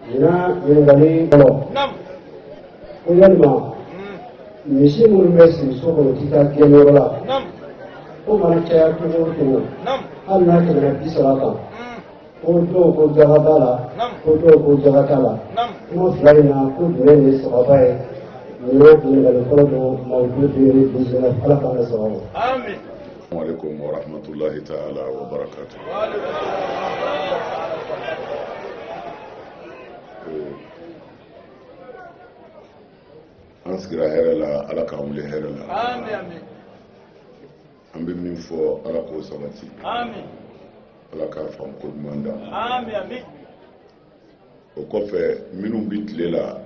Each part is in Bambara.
Ɲinan ɲininkali fɔlɔ ko yalima misi minnu bɛ siri so kɔnɔ k'i ka gɛn yɔrɔ la k'o mana caya cogo o cogo hali n'a tɛmɛna bi saba kan ko dɔw ko jaga b'a la ko dɔw ko jaga t'a la kuma fila in na ko jumɛn de ye sawaba ye nin ye ɲininkali fɔlɔ don mawudu deux mille dix-neuf ala k'an ka sawaba alaikum wa rahmatullahi ta'ala wa barakatu eh, an sigira hɛrɛ la ala k'an wuli hɛrɛ la an bɛ min fɔ ala k'o sabati ala k'a faamu ko ɲuman da o kɔfɛ minnu bɛ tile la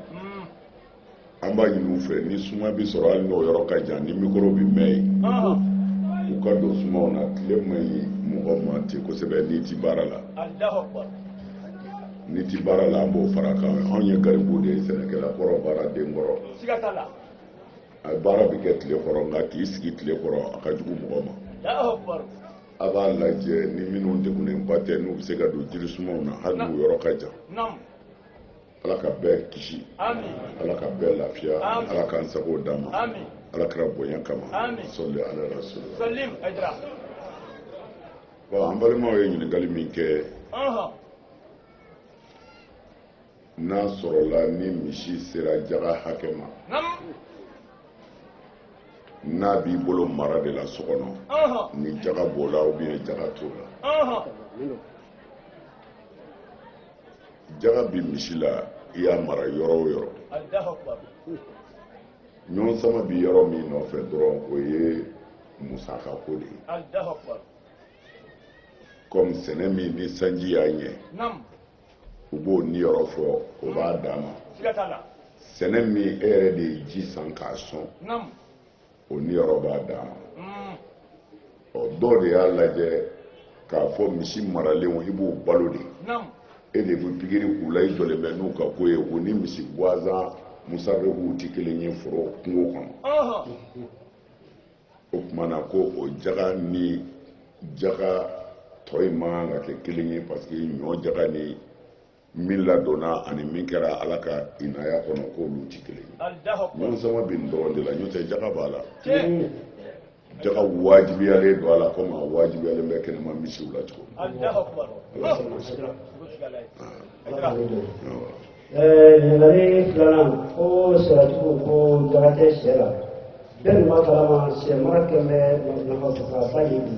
an b'a ɲini u fɛ ni suma bɛ sɔrɔ hali n'o yɔrɔ ka jan ni mikoro bɛ mɛn yen u ka don sumaw na tile man ɲi mɔgɔ ma ten kosɛbɛ n'i ti baara la n'i ti baara la an b'o fara kan anw ye garibu de ye sɛnɛkɛla kɔrɔ baaraden kɔrɔ a baara bɛ kɛ tile kɔrɔ nka k'i sigi tile kɔrɔ a ka jugu mɔgɔ ma a b'a lajɛ ni minnu degunenba tɛ n'u bɛ se ka don jiri sumaw na hali n'u yɔrɔ ka jan ala ka bɛɛ kisi ala ka bɛɛ lafiya ala k'an sago d'an ma ala kira bonya kama sɔli ala rasul bon an balimaw ye ɲininkali min kɛ n'a sɔrɔla ni misi sera jaga hakɛ ma n'a b'i bolo mara de la so kɔnɔ ni jaga b'o la ou bien jaga t'o la jaga bi misi la i y'a mara yɔrɔ o yɔrɔ ɲɔgɔn sama bi yɔrɔ min nɔfɛ dɔrɔn o ye musaka ko de ye kɔmi sɛnɛ min ni sanji y'a ɲɛ u b'o niyɔrɔ fɔ o b'a dama sɛnɛ min e yɛrɛ de ye ji san k'a sɔn o niyɔrɔ b'a dama ɔ dɔw de y'a lajɛ k'a fɔ misi maralenw i b'o balo de e de bɛ pikiri k'u la i jɔlen bɛ n'u ka ko ye o ni misi gansan musabɛkuw tɛ kelen ye foro kungo kɔnɔ o tuma na ko o jaga ni jaga tɔ in man kan ka kɛ kelen ye parce que ɲɔ jaga ni min ladonna ani min kɛra ala ka inaya kɔnɔ k'olu tɛ kelen ɲɔgɔn sama bɛ nin dɔrɔn de la n'o tɛ jaga b'a la jaga wajibiyalen don a la komi a wajibiyalen bɛ kɛnɛma misiw la cogo ɲininkali filanan ko sɔrɔcogo ko jaga tɛ sɛ la bɛɛ dun b'a kalama sɛ mara kɛlen bɛ nafa sɔrɔba ye bi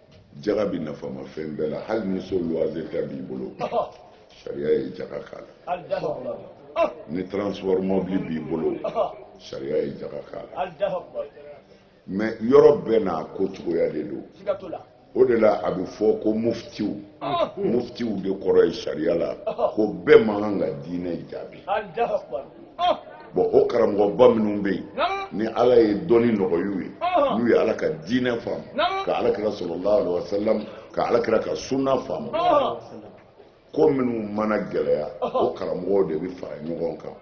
jaga bɛ nafama fɛn bɛɛ la hali ni so luwanze ta b'i bolo sariya ye jaga k'a la ni transport mobili b'i bolo sariya ye jaga k'a la mais yɔrɔ bɛɛ n'a ko cogoya de don o de la a bɛ fɔ ko muftiw muftiw de kɔrɔ ye sariya la ko bɛɛ man kan ka diinɛ jaabi bon o karamɔgɔba minnu bɛ yen ni ala ye dɔnni nɔgɔy'u ye n'u ye ala ka diinɛ faamu ka ala kira sallallahu alaihi wasallam ka ala kira ka sunna faamu ko minnu mana gɛlɛya o karamɔgɔw de bɛ fara ɲɔgɔn kan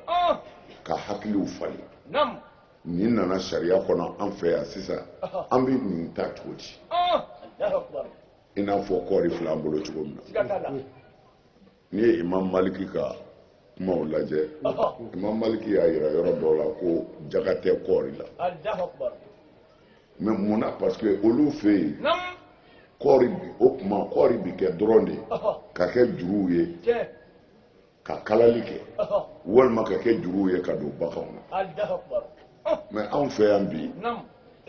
ka hakiliw falen nin nana sariya kɔnɔ an fɛ yan sisan an bɛ nin ta cogo di i n'a fɔ kɔɔri filɛ an bolo cogo min na n'i ye imam maliki ka kumaw lajɛ imam maliki y'a yira yɔrɔ dɔw la ko jaga tɛ kɔɔri la mais mun na parce que olu fɛ yen kɔɔri o tuma kɔɔri bɛ kɛ dɔrɔn de ka kɛ juruw ye ka kalali kɛ walima ka kɛ juruw ye ka don baganw na mais anw fɛ yan bi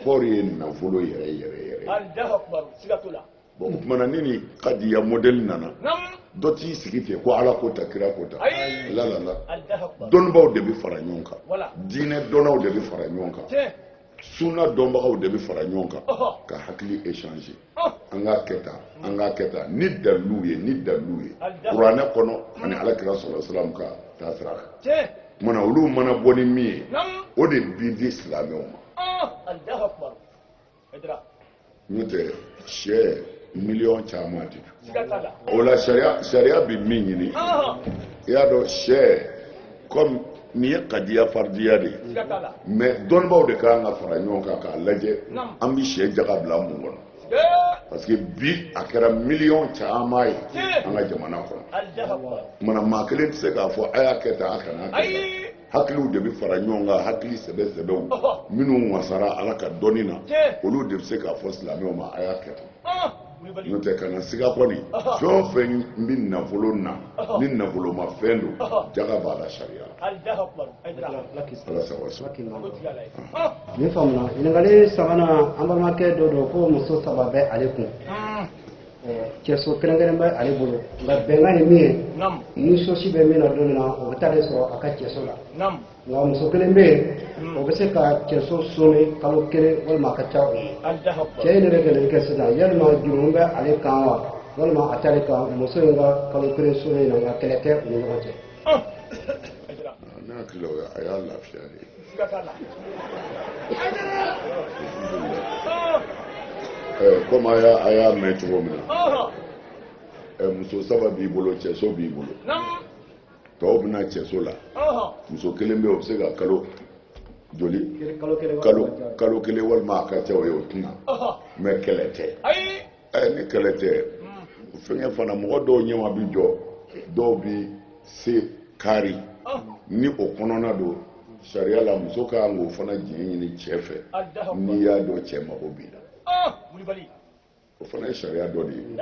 kɔɔri ye nafolo yɛrɛ yɛrɛ yɛrɛ bon o tuma na ni nin kadiya modɛli nana dɔ t'i sigi ten ko ala ko tan kira ko tan lalala dɔnnibaaw de bɛ fara ɲɔgɔn kan diinɛ dɔnnaw de bɛ fara ɲɔgɔn kan sunna dɔnbagaw de bɛ fara ɲɔgɔn kan ka hakili échanger an k'a kɛ tan an k'a kɛ tan ni daliluw ye ni daliluw ye kuranɛ kɔnɔ ani alakira sallallahu alaihi wasallam ka taasira kan kumana olu mana bɔ ni min ye o de bi di silamɛw ma n'o tɛ c'est miliyɔn caman de o la sariya sariya bɛ min ɲini i y'a dɔn c'est kɔmi nin ye kadiya faridiya de ye mais dɔnnibaaw de ka kan ka fara ɲɔgɔn kan k'a lajɛ an bɛ se jaga bila mun kɔnɔ parce que bi a kɛra miliyɔn caman ye an ka jamana kɔnɔ kumana maa kelen tɛ se k'a fɔ a y'a kɛ tan a kana kɛ hakiliw de bɛ fara ɲɔgɔn kan hakili sɛbɛ sɛbɛw minnu wasara ala ka dɔnni na olu de bɛ se k'a fɔ silamɛw ma a y'a kɛ tan n'o tɛ kana siga kɔni fɛn o fɛn bɛ nafolo na ni nafoloma fɛn don jaga b'a la sariya ala sago sɔrɔ. nin faamuna ɲininkali sabanan an balimakɛ dɔ don ko muso saba bɛ ale kun. cɛso kɛrɛnkɛrɛn bɛ ale bolo nka bɛnkan ye min ye ni sosi bɛ min na don min na o bɛ taa ale sɔrɔ a ka cɛso la nka muso kelen bɛ yen o bɛ se ka cɛso soni kalo kelen walima a ka ca o ye cɛ in de bɛ ɲininkali kɛ sisan yalima jurumu bɛ ale kan wa walima a t'ale kan muso in ka kalo kelen soni na nka kɛlɛ tɛ u ni ɲɔgɔn cɛ ne hakili la o ye a y'a lafiya de ye komi a y'a mɛn cogo min na muso saba b'i bolo cɛso b'i bolo tɔw bɛ na cɛso la muso kelen bɛ yen o bɛ se ka kalo joli kalo kelen walima a ka ca o ye o tɛ na mɛ kɛlɛ tɛ ɛ ni kɛlɛ tɛ fɛngɛ fana mɔgɔ dɔw ɲɛma bi jɔ dɔw bi se kari ni o kɔnɔna don sariya la muso ka kan k'o fana diɲɛ ɲini cɛ fɛ n'i y'a dɔn cɛ mago b'i la o fana ye sariya dɔ de ye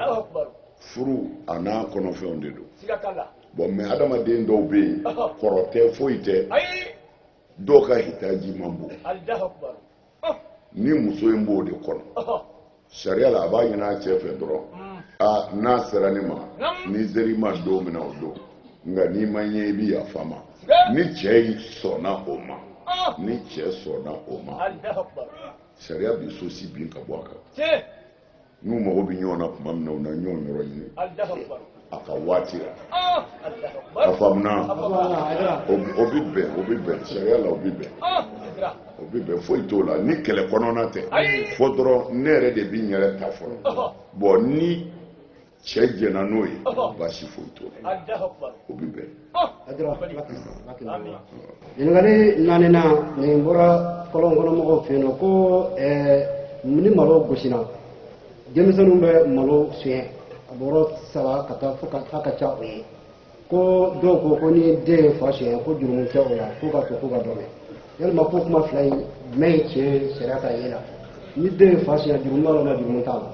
furu a n'a kɔnɔfɛnw de don bɔn mɛ adamaden dɔw bɛ yen kɔrɔ tɛ foyi tɛ dɔw ka hitaji man bon ni muso in b'o de kɔnɔ sariya la a b'a ɲini a cɛ fɛ dɔrɔn a n'a sera ne ma ni n ser'i ma don min na o don nka n'i ma n ye i bɛ yafa n ma ni cɛ in sɔnna o ma ni cɛ sɔnna o ma sariya bɛ sosi bin ka bɔ a kan n'u mago bɛ ɲɔgɔn na tuma min na u na ɲɔgɔn yɔrɔ ɲini a ka waati la ah! a faamuna o bɛ bɛn o bɛ bɛn sariya la o bɛ bɛn ah! o bɛ bɛn foyi t'o la ni kɛlɛ kɔnɔna tɛ fo dɔrɔn ne yɛrɛ de bɛ n yɛrɛ ta fɔlɔ ah! bɔn ni cɛ jɛnna n'o ye baasi foyi t'o la o bɛ bɛn ɲininkali naaninan nin bɔra kɔlɔn kɔnɔ mɔgɔw fɛ yen nɔ ko ni malo gosina denmisɛnninw bɛ malo suɲɛ a bɔrɔ saba ka taa fo k'a ka ca o ye ko dɔw ko ko ni den ye fa suɲɛ ko jurumu tɛ o la k'u k'a to k'u ka dɔgɔ yalima ko kuma fila in jumɛn ye tiɲɛ ye sariya ka ye la ni den ye fa suɲɛ jurumu b'a la wala jurumu t'a la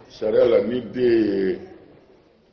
sariya la ni den ye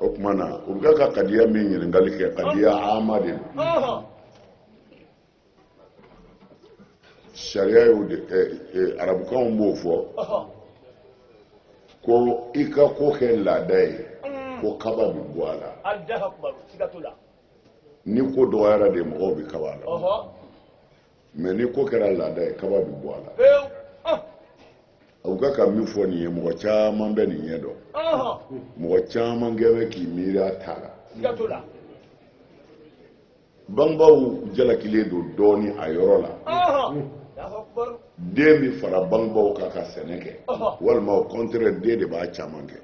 o tuma na u bɛ ka kadiya min ɲininkali kɛ kadiya ama de don sariya y'o de ɛ ɛ arabukan b'o fɔ ko i ka ko kɛ laada ye ko kaba bɛ bɔ a la ni ko dɔgɔyara de mɔgɔw bɛ kaba la mɛ ni ko kɛra laada ye kaba bɛ bɔ a la ah. aw bɛ ka min fɔ nin ye mɔgɔ caman bɛ nin ɲɛ dɔn mɔgɔ caman kɛ bɛ k'i miiri a ta la bangebaaw jalakilen don dɔɔnin a yɔrɔ la den bɛ fara bangebaaw kan ka sɛnɛ kɛ walima o kɔntɛrɛ den de b'a caman kɛ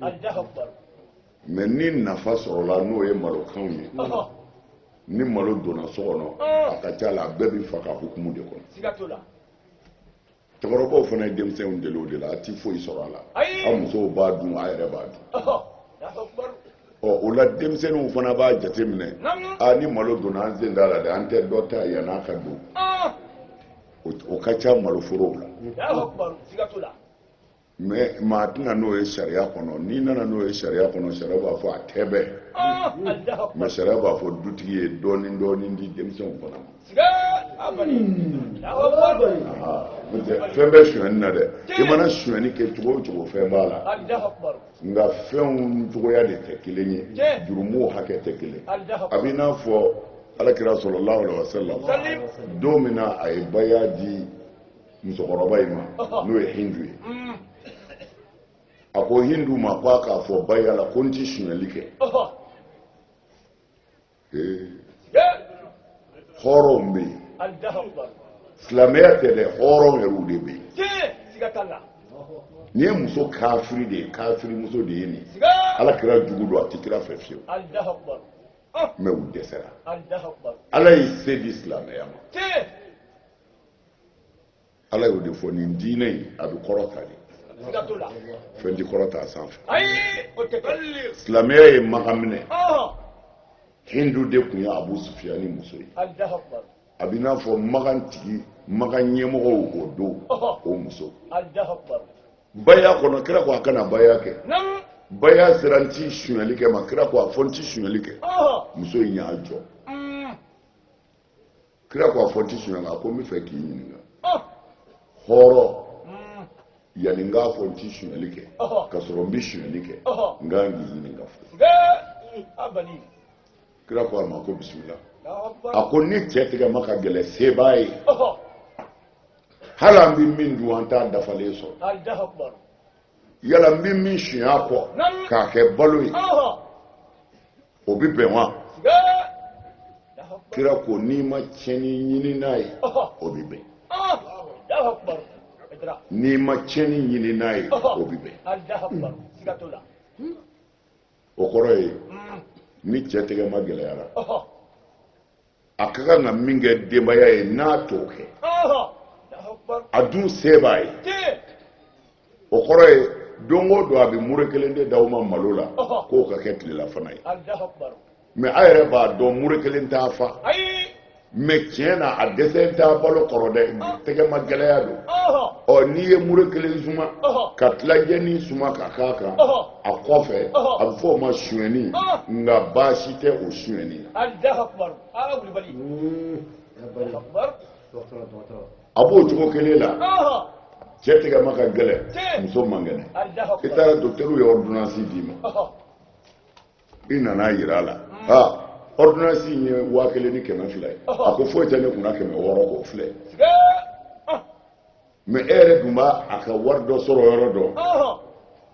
mɛ ni nafa sɔrɔla n'o ye malokanw ye ni malo donna so kɔnɔ a ka ca la a bɛɛ bɛ fa ka hukumu de kɔnɔ cɛkɔrɔbaw fana ye denmisɛnw deli o de la a ti foyi sɔrɔ a la a musow b'a dun a yɛrɛ b'a dun ɔ o la denmisɛnninw fana b'a jateminɛ a ni malo donna an sen d'a la dɛ an tɛ dɔ ta yann'a ka don o ka ca maloforow la mɛ maa tɛ na n'o ye sariya kɔnɔ n'i nana n'o ye sariya kɔnɔ sariya b'a fɔ a tɛ bɛn ah, mɛ sariya b'a fɔ dutigi ye dɔɔnin dɔɔnin di denmisɛnw fana ma fɛn bɛ sonyani na dɛ i mana sonyani kɛ cogo o cogo fɛn b'a la nka fɛnw cogoya de tɛ kelen ye jurumu hakɛ tɛ kelen a bɛ i n'a fɔ ala kira salalahu alaihi wasallam don min na a ye baya di musokɔrɔba in ma n'o ye hindu ye a ko hindu ma ko a k'a fɔ baya la ko n ti sunyali kɛ hɔrɔnw bɛ yen silamɛya tɛ dɛ hɔrɔn yɛrɛw de bɛ yen nin ye muso kafiri de ye kafiri muso de ye nin ala kira jugu don a tɛ kira fɛ fiyewu mɛ u dɛsɛra ala ye se di silamɛya ma ala y'o de fɔ nin diinɛ in a bɛ kɔrɔta de fɛn tɛ kɔrɔta a sanfɛ silamɛya ye makan minɛ hindu de tun ye abu sufiyani muso ye a b'i n'a fɔ makan tigi makan ɲɛmɔgɔw o don o muso baya kɔnɔ kira ko a ka na baya kɛ baya sera n ti sonyali kɛ ma kira ko a fɔ n ti sonyali kɛ muso in y'i jɔ kira ko a fɔ n ti sunyali a ko n bɛ fɛ k'i ɲininka ah. hɔrɔn hmm. yanni n k'a fɔ n ti sunyali kɛ ka sɔrɔ n bɛ sunyali kɛ n kan k'i ɲininka fɔ kira ko a ma ko bisimila a ko ni cɛ tigɛma ka gɛlɛn se b'a ye hali an bɛ min dun an t'a dafalen sɔrɔ yala n bɛ min suɲɛ a kɔ k'a kɛ balo ye o bɛ bɛn wa kira ko n'i ma tiɲɛni ɲini n'a ye o bɛ bɛn n'i ma tiɲɛni ɲini n'a ye o bɛ bɛn o kɔrɔ ye ni cɛ tɛgɛma gɛlɛyara a ka kan ka min kɛ denbaya ye n'a t'o kɛ a dun se b'a ye o kɔrɔ ye don o don a bɛ mure kelen de d'aw ma malo la k'o ka kɛ tilelafana ye mɛ a yɛrɛ b'a dɔn mure kelen t'a fa mɛ tiɲɛ na a dɛsɛlen t'a balo kɔrɔ dɛ tɛgɛmagɛlɛya don ɔ n'i ye mure kelen suma ka tilancɛnin suma ka k'a kan a kɔfɛ a bɛ fɔ o ma sonyɛni nka baasi tɛ o sonyɛni na. a b'o cogo kelen la cɛ tigɛma ka gɛlɛn muso man kɛnɛ i taara dɔkitɛriw ye ɔridonansi d'i ma i nana yira a la aa ɔridonansi in ye waa kelen ni kɛmɛ fila ye a ko foyi tɛ ne kunna kɛmɛ wɔɔrɔ k'o filɛ. mɛ e yɛrɛ dun b'a a ka wari dɔ sɔrɔ yɔrɔ dɔn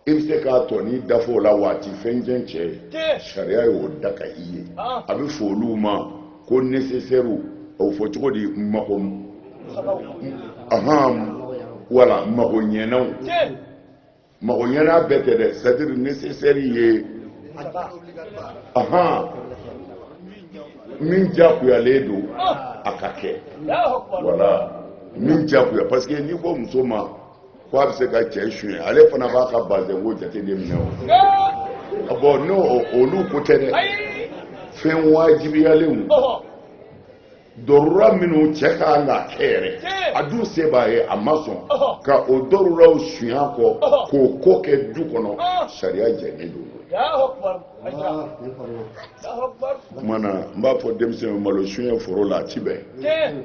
i bɛ se k'a tɔ nin dafa o la waati fɛn jɛn cɛ ye sariya y'o daga i ye a bɛ fɔ olu ma ko nesesɛriw o fɔ cogo di mago ahan wala mago ɲɛnaw mago ɲɛna bɛɛ tɛ dɛ c'est-à-dire nesesɛri ye ahan min jakuyalen don a ka kɛ wala min jakuya parce que n'i ko muso ma ko a bɛ se ka cɛ suɲɛ ale fana b'a ka bazɛn ko jate de minɛ o bɔn n'o olu ko tɛ dɛ fɛn wajibiyalenw dɔrura minnu cɛ ka kan k'a kɛ yɛrɛ a dun se b'a ye a ma sɔn ka o dɔruraw sunya kɔ k'o ko kɛ du kɔnɔ sariya jɛnnen don kuma na n b'a fɔ denmisɛnw malo sunyɛ foro la a ti bɛn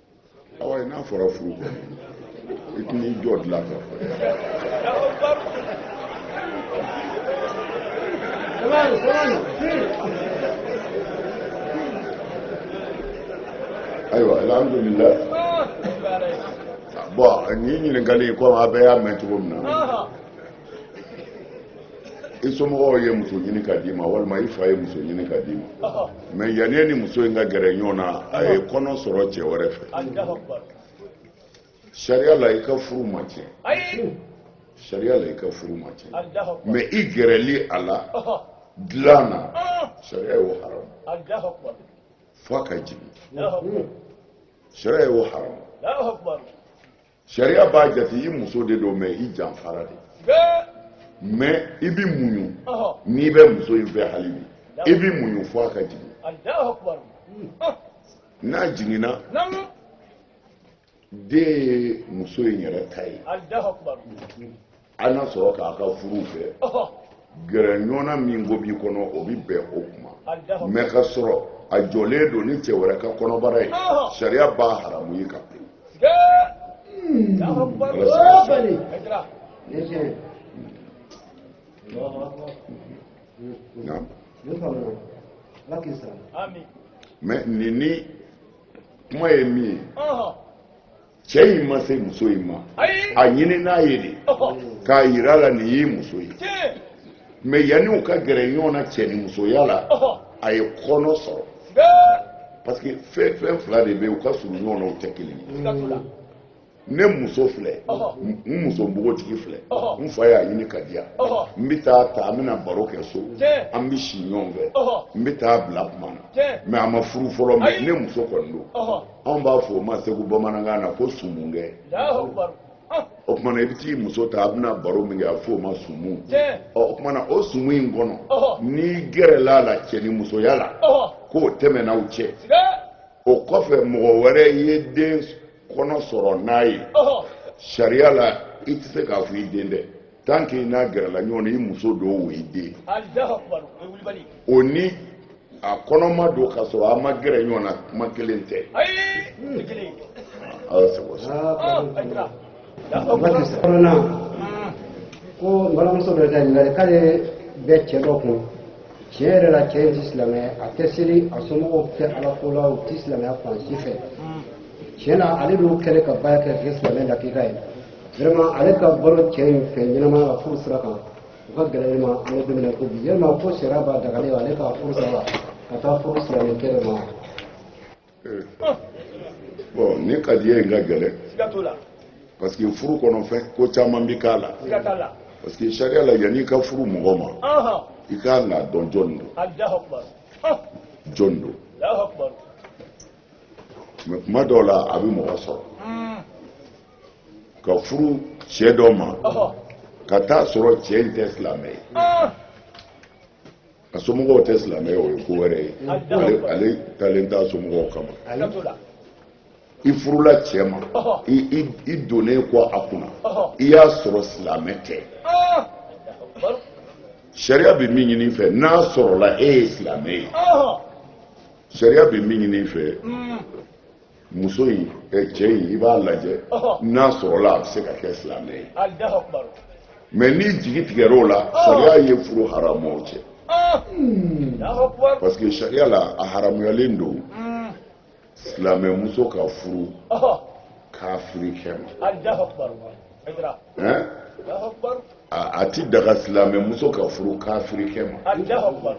awa ye n'a fɔra furu ko i tɛna i jɔ dilan kan ayiwa alhamdulilayi bɔn nin ɲininkali in komi a bɛɛ y'a mɛn cogo min na i somɔgɔw ye muso ɲini ka d'i ma walima i fa ye muso ɲini ka d'i ma mɛ yanni e ni muso in ka gɛrɛ ɲɔgɔn na a ye kɔnɔ sɔrɔ cɛ wɛrɛ fɛ sariya la i ka furu ma tiɲɛ sariya la i ka furu ma tiɲɛ mɛ i gɛrɛli a la dilan na sariya y'o haramu f'a ka jigin sariya y'o haramu sariya b'a jate i muso de don mɛ i janfara de mɛ i bɛ muɲu n'i bɛ muso in fɛ hali bi i bɛ muɲu fo a ka jigin n'a jiginna den ye muso in yɛrɛ ta ye a n'a sɔrɔ k'a ka furu fɛ gɛrɛ ɲɔgɔnna min ko b'i kɔnɔ o bɛ bɛn o kuma mɛ ka sɔrɔ a jɔlen don ni cɛ wɛrɛ ka kɔnɔbara ye sariya b'a haramu i kan mɛ nin ni kuma ye min ye cɛ in ma se muso in ma a ɲinin'a ye de k'a yira a la nin y'i muso ye mais yanni u ka gɛrɛ ɲɔgɔn na cɛ ni musoya la a ye kɔnɔ sɔrɔ parce que fɛn fɛn fila de bɛ yen u ka surun ɲɔgɔn na u tɛ kelen ye ne muso filɛ n muso npogotigi filɛ n fa y'a ɲini k'a di yan n bɛ t'a ta an bɛna baro kɛ so an bɛ si ɲɔgɔn fɛ n bɛ t'a bila kuma na mais a ma furu fɔlɔ mais ne muso kɔni don anw b'a fɔ o ma segu bamanankan na ko sumu kɛ o kumana i bɛ t'i muso ta a bɛna baro min kɛ a fɔ o ma sumu o kumana o sumu in kɔnɔ n'i gɛrɛla a la cɛ ni musoya la k'o tɛmɛna u cɛ o kɔfɛ mɔgɔ wɛrɛ ye den kɔnɔ sɔrɔ n'a ye sariya la i tɛ se k'a fɔ i den tɛ tant que n'a gɛrɛla ɲɔgɔn na i muso don o y'i den o ni a kɔnɔma don ka sɔrɔ a ma gɛrɛ ɲɔgɔn na kuma kelen tɛ ala sago kɔnɔna ko balimamuso dɔ ka ɲininkali k'ale bɛ cɛ dɔ kun tiɲɛ yɛrɛ la cɛ in tɛ silamɛ a tɛ seli a somɔgɔw tɛ ala ko la u tɛ silamɛya fan si fɛ tiɲɛ na ale b'o kɛlɛ ka baara kɛ kɛ silamɛ lakika ye vraiment ale ka balo cɛ in fɛ ɲɛnamaya la furu sira kan o ka gɛlɛn ne ma an bɛ don min na ko bi yalima ko sariya b'a dagalen ale ka furu sara ka taa furu silamɛ kɛ de ma bon nin kadiya in ka gɛlɛn parce que furu kɔnɔ fɛn ko caman bi k'a la parce que sariya la yanni i ka furu mɔgɔ ma i ka kan k'a dɔn jɔni don jɔni don mais kuma dɔw la a bɛ mɔgɔ sɔrɔ ka furu cɛ dɔ ma ka t'a sɔrɔ cɛ in tɛ silamɛ ye a somɔgɔw tɛ silamɛ ye o ye ko wɛrɛ ye ale taalen t'a somɔgɔw kama i furula cɛ ma i donnen kɔ a kunna i y'a sɔrɔ silamɛ tɛ sariya bɛ min ɲini i fɛ n'a sɔrɔla e ye silamɛ ye sariya bɛ min ɲini i fɛ muso in cɛ in i b'a lajɛ n'a sɔrɔla a bɛ se ka kɛ silamɛ ye mais n'i jigi tigɛra o la sariya ye furu haramu aw cɛ parce que sariya la a haramuyalen don silamɛ muso ka furu kafiri kɛ ma a ti daga silamɛ muso ka furu kafiri kɛ ma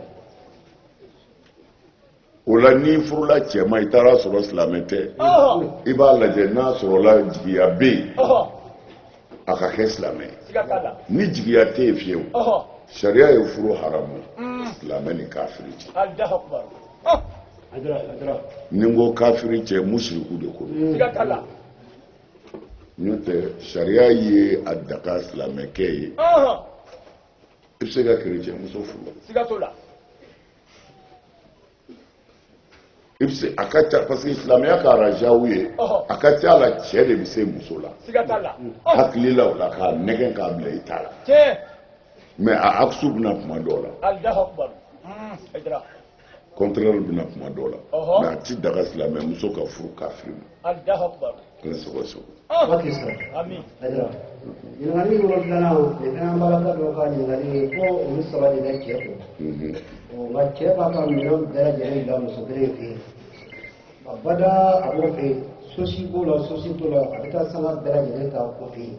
o la n'i furula cɛ ma i taar'a sɔrɔ silamɛ tɛ i b'a lajɛ n'a sɔrɔla jigiya bɛ yen a ka kɛ silamɛ ni jigiya tɛ yen fiyewu sariya ye furu haramu mm. silamɛ ni kafiri cɛ ni n ko kafiri cɛ musiriku de ko don n'o tɛ sariya ye a daga silamɛkɛ ye i bɛ se ka kerecɛnmuso furu i bɛ se a ka ca parce que silamɛya ka arajaw ye a ka ca la cɛ de bɛ se muso la hakili la o la k'a nɛgɛn k'a bila i ta la mais a aksu bɛ na kuma dɔw la contraire bɛ na kuma dɔw la mais a ti daga silamɛ muso ka furu kafiri ma An bɛ sogo sogo. Waati sera. Ami. Ayiwa. Ɲininkali wolonfilanan nin fana an balaka dɔ ka ɲininkali ye ko olu saba de bɛ cɛ kun. Nka cɛ b'a ka minɛn bɛɛ lajɛlen bila muso kelen fɛ yen. A bada a b'o fɛ yen sosi b'o la sosi t'o la a bɛ taa sanga bɛɛ lajɛlen ta o fɛ yen.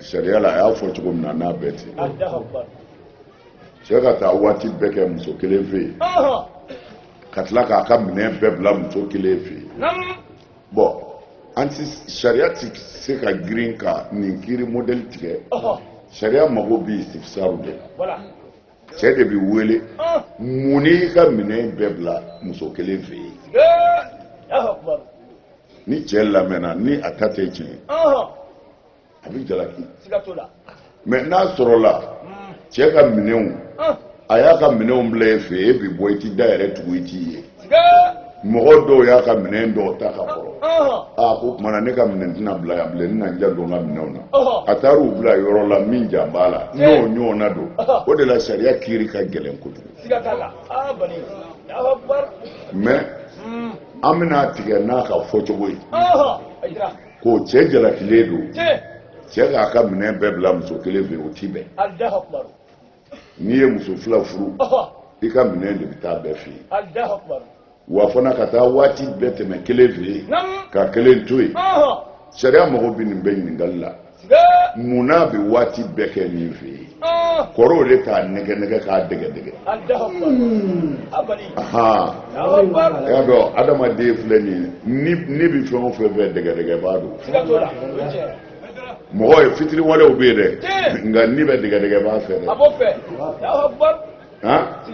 sariya la a y'a fɔ cogo min na n'a bɛ ten cɛ ka taa waati bɛɛ kɛ muso kelen fɛ yen ka tila k'a ka minɛn bɛɛ bila muso kelen fɛ yen bon an ti sariya ti se ka girin ka nin kiri mɔdɛli tigɛ sariya mago bɛ istifsaru de la cɛ de bɛ wele mun n'i ka minɛn bɛɛ bila muso kelen fɛ yen ni cɛ lamɛnna ni a ta tɛ tiɲɛ a bɛ jalaki mais n'a sɔrɔla cɛ ka minɛnw a y'a ka minɛnw bila e fɛ e bɛ bɔ i ti da yɛrɛ tugu i t'i ye mɔgɔ dɔw y'a ka minɛn dɔw ta ka kɔrɔ a ko kuma na ne ka minɛn tɛna bila yan bilen n na n janto n ka minɛnw na a taara u bila yɔrɔ la min jan b'a la n'o ɲɔgɔnna don o de la sariya kiri ka gɛlɛn kojugu mais an bɛn'a tigɛ n'a ka fɔcogo ye ko cɛ jalakilen don cɛ k'a ka minɛn bɛɛ bila muso kelen fɛ o ti bɛn n'i ye muso fila furu i ka minɛn de bɛ taa bɛɛ fɛ yen wa fana ka taa waati bɛɛ tɛmɛ kelen fɛ yen ka kelen to yen sariya mago bɛ nin bɛɛ ɲininkali la mun n'a bɛ waati bɛɛ kɛ nin fɛ yen kɔrɔw de k'a nɛgɛ nɛgɛ k'a dɛgɛ dɛgɛ y'a dɔn adamaden filɛ nin ye ni bɛ fɛn o fɛn fɛ dɛgɛ dɛgɛ b'a don mɔgɔ ye fitiriwalew bɛ yen dɛ nka ni bɛ dɛgɛdɛgɛ b'a fɛ dɛ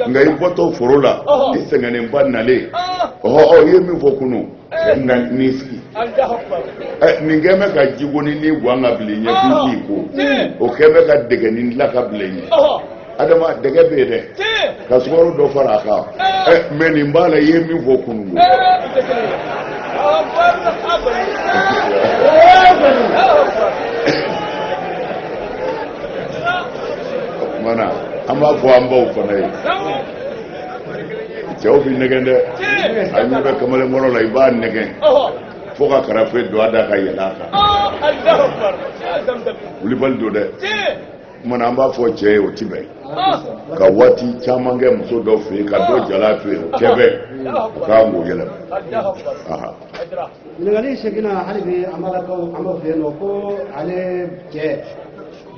nka i bɔtɔ foro la i sɛgɛnnenba nalen ɔhɔ ɔ i ye min fɔ kunu nka n'i sigi nin kɛlen bɛ ka jigoninin guwan k'a bil'i ɲɛ k'i ko o kɛlen bɛ ka dɛgɛnin dilan k'a bil'i ɲɛ adama dɛgɛ bɛ yen dɛ ka sukaro dɔ fara a kan mɛ nin b'a la i ye min fɔ kunun o tuma na an b'a fɔ an baw fana ye cɛw bɛ nɛgɛn dɛ a ɲɛ bɛ kamalenkɔrɔ la i b'a nɛgɛn fo ka karafe don a da ka yɛlɛn a kan wulibali don dɛ o tuma na an b'a fɔ cɛ ye o ti bɛn ka waati caman kɛ muso dɔ fɛ yen ka dɔ jalan to yen o tɛ bɛn a ka kan k'o yɛlɛma ɲininkali seginna hali bi an balakaw an ba fɛ yen nɔ ko ale cɛ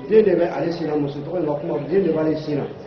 den de bɛ ale sin na muso tɔgɔ in ka kuma den de b'ale sin na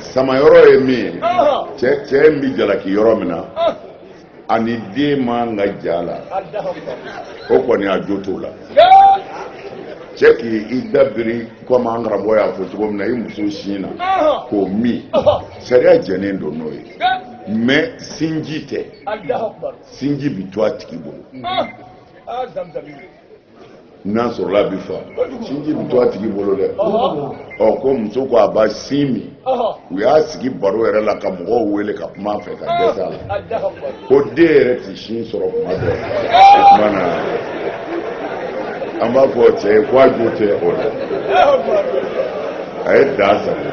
samayɔrɔ ye min ye cɛ in bɛ jalaki yɔrɔ min na ani den man ka ja la o kɔni a jo t'o la cɛ k'i da biri komi an karamɔgɔ y'a fɔ cogo min na i muso sin na k'o min sariya jɛnnen don n'o ye mɛ sinji tɛ sinji bɛ to a tigi bolo n'a sɔrɔla a bɛ fa sinji bɛ to a tigi bolo dɛ ɔ ko muso ko a b'a sin min u y'a sigi baro yɛrɛ la ka mɔgɔw wele ka kuma a fɛ ka dɛsɛ a la ko den yɛrɛ tɛ sin sɔrɔ kuma dɔ o tuma na an b'a fɔ cɛ ye ko a jo tɛ o la a ye dan sagon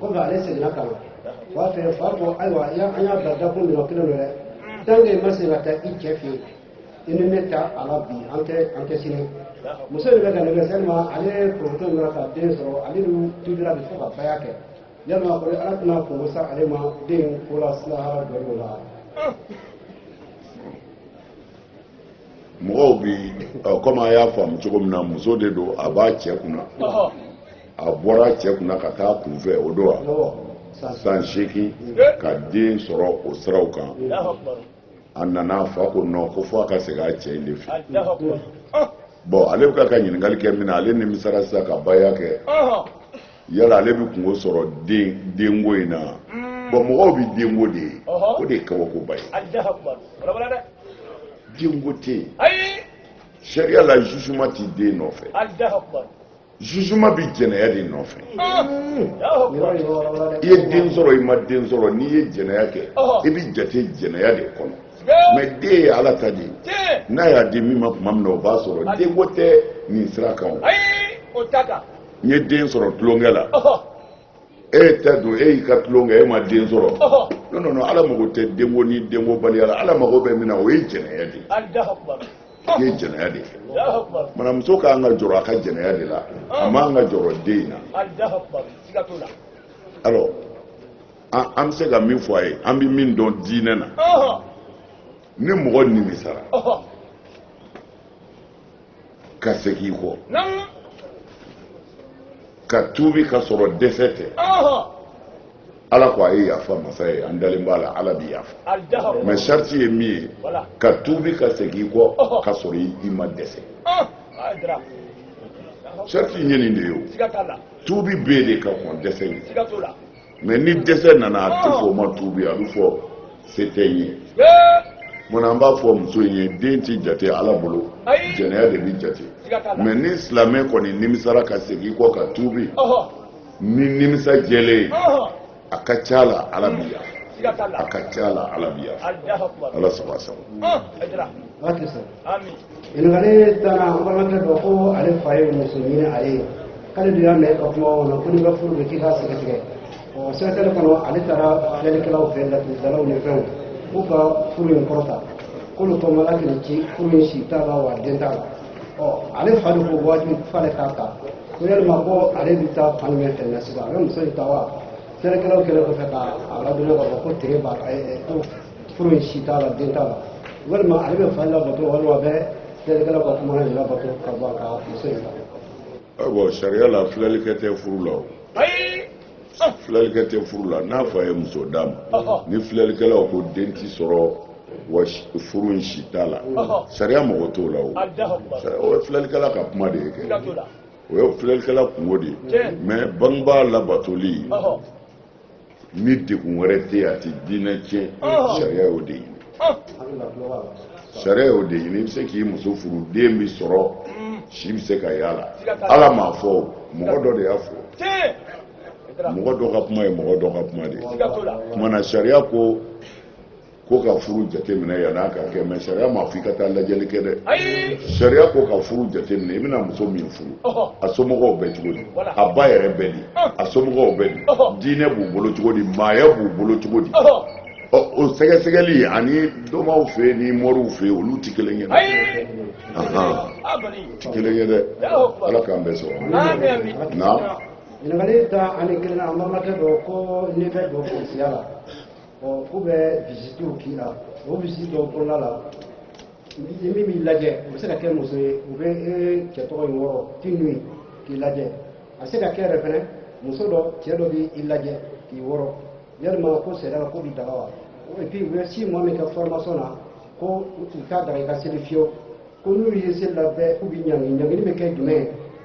kɔfɛ ale seginna ka na a fa fɛ fa ko ayiwa an y'a bila dakun min na kelen don dɛ tant que i ma segin ka taa i cɛ fɛ yen i ni ne t'a la bi an tɛ an tɛ sini muso de bɛ ka ne kɛ sɛlima ale poroto in ka den sɔrɔ ale ni tubira de fo ka baya kɛ yalima ko ala tɛna kunko sa ale ma denko la sini lahara don de la mɔgɔw bi ɔ kɔmi a y'a faamu cogo min na muso de don a b'a cɛ kunna a bɔra a cɛ kunna ka taa kunfɛ o don wa san seegin ka den sɔrɔ o siraw kan a nana a fa ko nɔ ko fo a ka segin a cɛ in de fɛ bɔn ale bɛ ka ka ɲininkali kɛ min na ale nimisara sisan ka baya kɛ yala ale bɛ kunko sɔrɔ denko in na bɔn mɔgɔw bɛ denko de ye o de ye kabakoba ye denko tɛ yen sariya la zuzuma tɛ den nɔfɛ zuzuma bɛ jɛnɛya de nɔfɛ i ye den sɔrɔ i ma den sɔrɔ n'i ye jɛnɛya kɛ i bɛ jate jɛnɛya de kɔnɔ mɛ den ye ala ta de ye n'a y'a di min ma tuma min na o b'a sɔrɔ denko tɛ nin sira kan o n ye den sɔrɔ tulonkɛ la e tɛ don e y'i ka tulon kɛ e ma den sɔrɔ non non non ala mago tɛ denko ni denko baliya la ala mago bɛ min na o ye jɛnɛya de ye i ye jɛnɛya de kɛ mana muso ka kan ka jɔrɔ a ka jɛnɛya de la a man ka jɔrɔ den in na alors an an bɛ se ka min fɔ a ye an bɛ min dɔn diinɛ na ni mɔgɔ nimisara. ka segin i kɔ ka tuubi ka sɔrɔ dɛsɛ tɛ ala ko a ye yafa masa ye an dalen b'a la ala bɛ yafa mais sariti ye min ye ka tuubi ka segin i kɔ ka sɔrɔ i ma dɛsɛ sariti ye nin de ye o tuubi bɛ de ka kɔn dɛsɛ ye mais ni dɛsɛ nana a tɛ fɔ o ma tuubi a bɛ fɔ se tɛ n ye munna an b'a fɔ muso in ye den tɛ jate ala bolo jɛnɛya de bɛ jate mais ni silamɛ kɔni nimisara ka segin i kɔ ka tuubi ni nimisa jɛlen ye a ka ca la ala bɛ yafa a ka ca la ala bɛ yafa ala saba saba ɲininkali tannan an balimakɛ dɔ ko ale fa ye muso ɲini ale ye k'ale de y'a mɛn ka kuma o la ko n'i ka furu bɛ k'i k'a sɛgɛsɛgɛ ɔ sɛgɛsɛgɛli kɔnɔ ale taara filɛlikɛlaw fɛ laturudalaw ni fɛnw k'u ka furu in kɔrɔta k'olu kɔnɔ ala k'i ci furu in si t'a la wa den t'a la ɔ ale fa de ko wajibi f'ale k'a ta ko yalima ko ale bɛ taa fan jumɛn fɛ na sisan a bɛ muso in ta wa filɛlikɛlaw kɛlen kɔfɛ ka a ladɔn k'a fɔ ko tere b'a ko furu in si t'a la den t'a la walima ale bɛ fa labato walima a bɛ filɛlikɛlaw ka kuma in labato ka bɔ a ka muso in la. awɔ sariya la filɛlikɛ tɛ furu la o. ayi. filɛlikɛ tɛ furu la n'a fa ye muso d'a ma ni filɛlikɛlaw ko den tɛ sɔrɔ wa furu in si t'a la sariya mago t'o la o o ye filɛlikɛla ka kuma de ye kɛ o ye filɛlikɛla kunko de ye mais bangebaa labatoli ni degun wɛrɛ tɛ yen a tɛ diinɛ tiɲɛ oh. sariya y'o de ɲini oh. sariya y'o de ɲini i bɛ se k'i muso furu den bɛ sɔrɔ mm. si bɛ se ka y'a la ala m'a fɔ mɔgɔ dɔ de y'a fɔ mɔgɔ dɔ ka kuma ye mɔgɔ dɔ ka kuma de ye kumana sariya ko ko ka furu jateminɛ yan'a ka kɛ mais sariya m'a fɔ i ka taa lajɛli kɛ dɛ sariya ko ka furu jateminɛ i bɛna muso min furu a somɔgɔw bɛ cogo di a ba yɛrɛ bɛ di a somɔgɔw bɛ di diinɛ b'u bolo cogo di maaya b'u bolo cogo di o sɛgɛsɛgɛli ani domaw fɛ ni moriw fɛ olu tɛ kelen ye dɛ tɛ kelen ye dɛ ala k'an bɛɛ sɔrɔ na ɲininkali tan ni kelennan an balimakɛ dɔ ko n'i bɛ don polisiya la ɔ k'u bɛ visitiw k'i la o visiti dɔw kɔnɔna la min b'i lajɛ o bɛ se ka kɛ muso ye u bɛ e cɛ tɔgɔ in wɔrɔ tout nu ye k'i lajɛ a bɛ se ka kɛ yɛrɛ fɛnɛ muso dɔ cɛ dɔ b'i lajɛ k'i wɔrɔ yalima ko sariya la k'o bi daga wa et puis u bɛ six mois min kɛ formation na ko u t'a daga i ka seli fiyewu ko n'u ye seli la bɛɛ k'u b'i ɲangi ɲangili bɛ kɛ jumɛn ye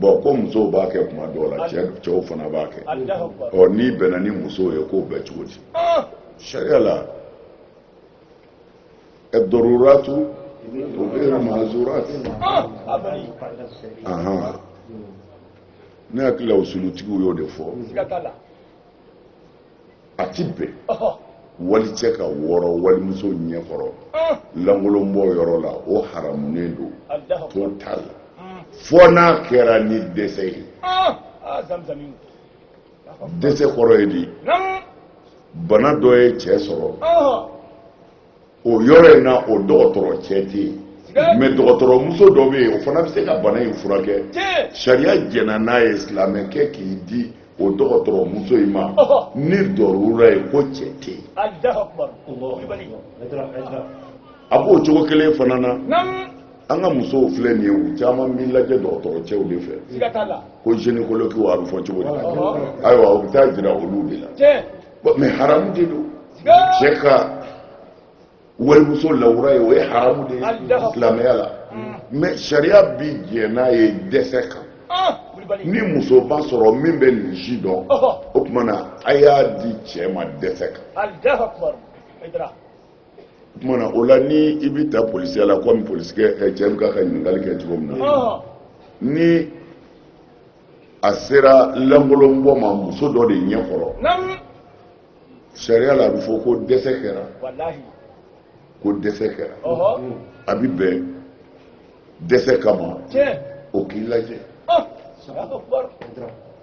bɔn ko musow b'a kɛ kuma dɔw la cɛw fana b'a kɛ ɔ n'i bɛnna ni musow ye k'o bɛ cogo di ah! sariya la ad-daruratu tubihu mahzurati ah! ne hakili la usulutigiw y'o de fɔ a ti bɛn walicɛ ka wɔrɔ walimuso ɲɛ kɔrɔ lankolonbɔ yɔrɔ la o haramunen don total fo n'a kɛra ni dɛsɛ ye dɛsɛ kɔrɔ ye di bana dɔ ye cɛ sɔrɔ o yɔrɔ in na o dɔgɔtɔrɔ cɛ tɛ yen mais dɔgɔtɔrɔmuso dɔ bɛ yen o fana bɛ se ka bana in furakɛ sariya jɛnna n'a ye silamɛkɛ k'i di o dɔgɔtɔrɔmuso in ma ni darura ye ko cɛ tɛ yen a b'o cogo kelen fana na an ka musow filɛ nin ye u caman b'i lajɛ dɔgɔtɔrɔ cɛw de fɛ ko gynécologue a bɛ fɔ cogo di ayiwa u bɛ taa jira olu de la bon mais haramu de don cɛ ka walimuso lawura ye o ye haramu de ye silamɛya la mais sariya bi jɛn n'a ye dɛsɛ kan ni muso ma sɔrɔ min bɛ nin ci dɔn o tuma na a y'a di cɛ ma dɛsɛ kan o tuma na o la ni i bɛ taa polisiya la komi polisikɛ cɛ bɛ k'a ka ɲininkali kɛ cogo min na ni a sera lankolonbɔ ma muso dɔ de ɲɛ kɔrɔ sariya la a bɛ fɔ ko dɛsɛ kɛra ko dɛsɛ kɛra a bɛ bɛn dɛsɛ kama o k'i lajɛ ah!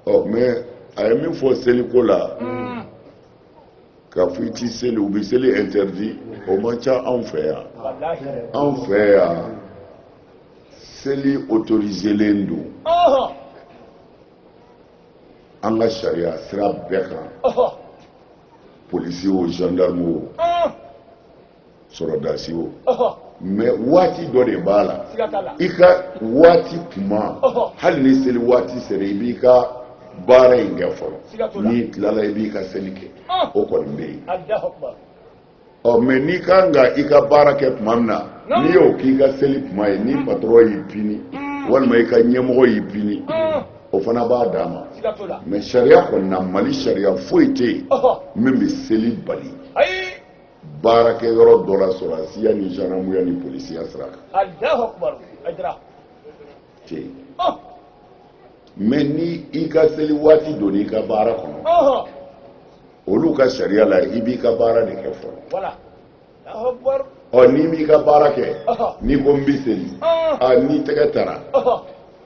ɔ mais a ye min fɔ seliko la hmm. k'a fɔ i t'i seli u bɛ seli interdit o man ca anw fɛ yan anw fɛ yan. seli autoriselen don an ka sariya sira bɛɛ kan polisi o gendarme o sɔrɔdasi o mais waati dɔ de b'a la i ka waati kuma hali ni seli waati sera i b'i ka baara in kɛ fɔlɔ n'i tilala i b'i ka seli kɛ o kɔni bɛ yen ɔ mɛ n'i ka kan ka i ka baara kɛ tuma min na n'i y'o k'i ka seli tuma ye ni patɔrɔn y'i pini walima i ka ɲɛmɔgɔ y'i pini o fana b'a dama mɛ sariya kɔni na mali sariya foyi tɛ yen min bɛ seli bali baarakɛ yɔrɔ dɔ la sɔrɔdasiya ni zandamuya ni polisiya sira kan mɛ ni i ka seli waati donna i ka baara kɔnɔ olu ka sariya la i b'i ka baara de kɛ fɔlɔ ɔ n'i m'i ka baara kɛ n'i ko n bɛ seli a n'i tɛgɛ tara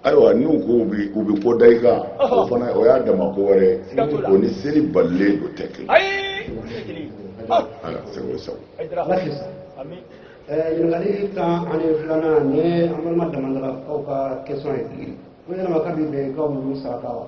ayiwa n'u ko u bɛ u bɛ ko da i kan o fana o y'a dama ko wɛrɛ ye o ni seli balilen don tɛ kelen ala sago sago. ɲininkali tan ani filanan ni an balima damandarakaw ka kɛsɔn ye ko yala mɔgɔ bi bɛn ka wulu saraka wa.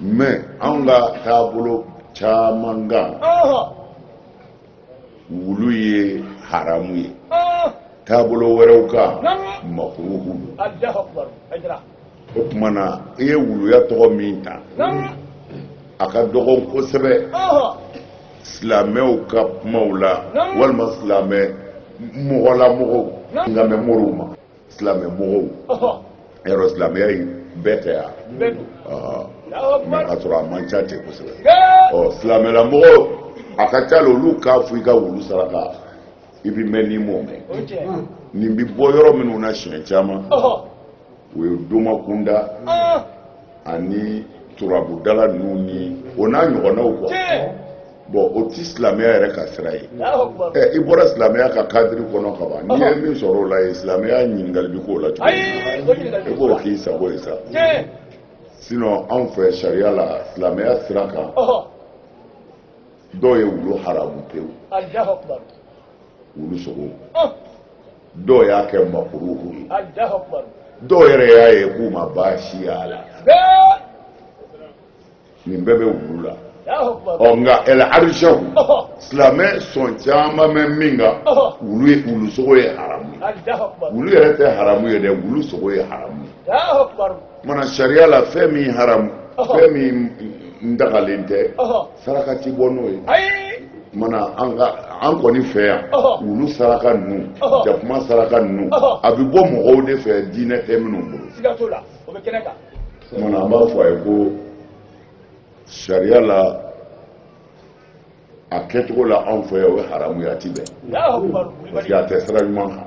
mɛ anw ka taabolo caman kan wulu ye haramu ye taabolo wɛrɛw kan makuruhu don o tuma na i ye wuluya tɔgɔ min ta a ka dɔgɔn kosɛbɛ silamɛw ka kumaw la walima silamɛ mɔgɔlamɔgɔw nka mɛ moriw ma silamɛ mɔgɔw yɔrɔ silamɛya ye bɛɛ tɛ yan mɛ ka sɔrɔ a man ca ten kosɛbɛ ɔ silamɛla mɔgɔw a ka ca la olu k'a fɔ i ka wulu saraka i bɛ mɛn n'i m'o mɛn nin bɛ bɔ yɔrɔ minnu na siɲɛ caman o ye domakunda ani turabudala ninnu ni o n'a ɲɔgɔnnaw kuwa bɔn o tɛ silamɛya yɛrɛ ka sira ye ɛ i bɔra silamɛya ka kadiri kɔnɔ ka ban n'i ye min sɔrɔ o la yen silamɛya ɲininkali bɛ k'o la cogo min i b'o k'i sago ye sa sinɔn anw fɛ sariya la silamɛya sira kan dɔw ye wulu haramu pewu wulu sogo dɔw y'a kɛ makuruhu ye dɔw yɛrɛ y'a ye k'u ma baasi y'a la nin bɛɛ bɛ wulu la ɔ nka ɛlɛ arizɛw silamɛ sɔn caman bɛ min kan wulu sogo ye haramu ye wulu yɛrɛ tɛ haramu ye dɛ wulu sogo ye haramu ye mana sariya la fɛn min haramu fɛn min dagalen tɛ saraka ti bɔ n'o ye mana an kɔni fɛ yan wulu saraka ninnu jakuma saraka ninnu a bɛ bɔ mɔgɔw de fɛ diinɛ tɛ minnu bolo mana an b'a fɔ a ye ko sariya la a kɛcogo la anw fɛ yan o ye haramu ye a ti bɛn parce que a tɛ sira ɲuman kan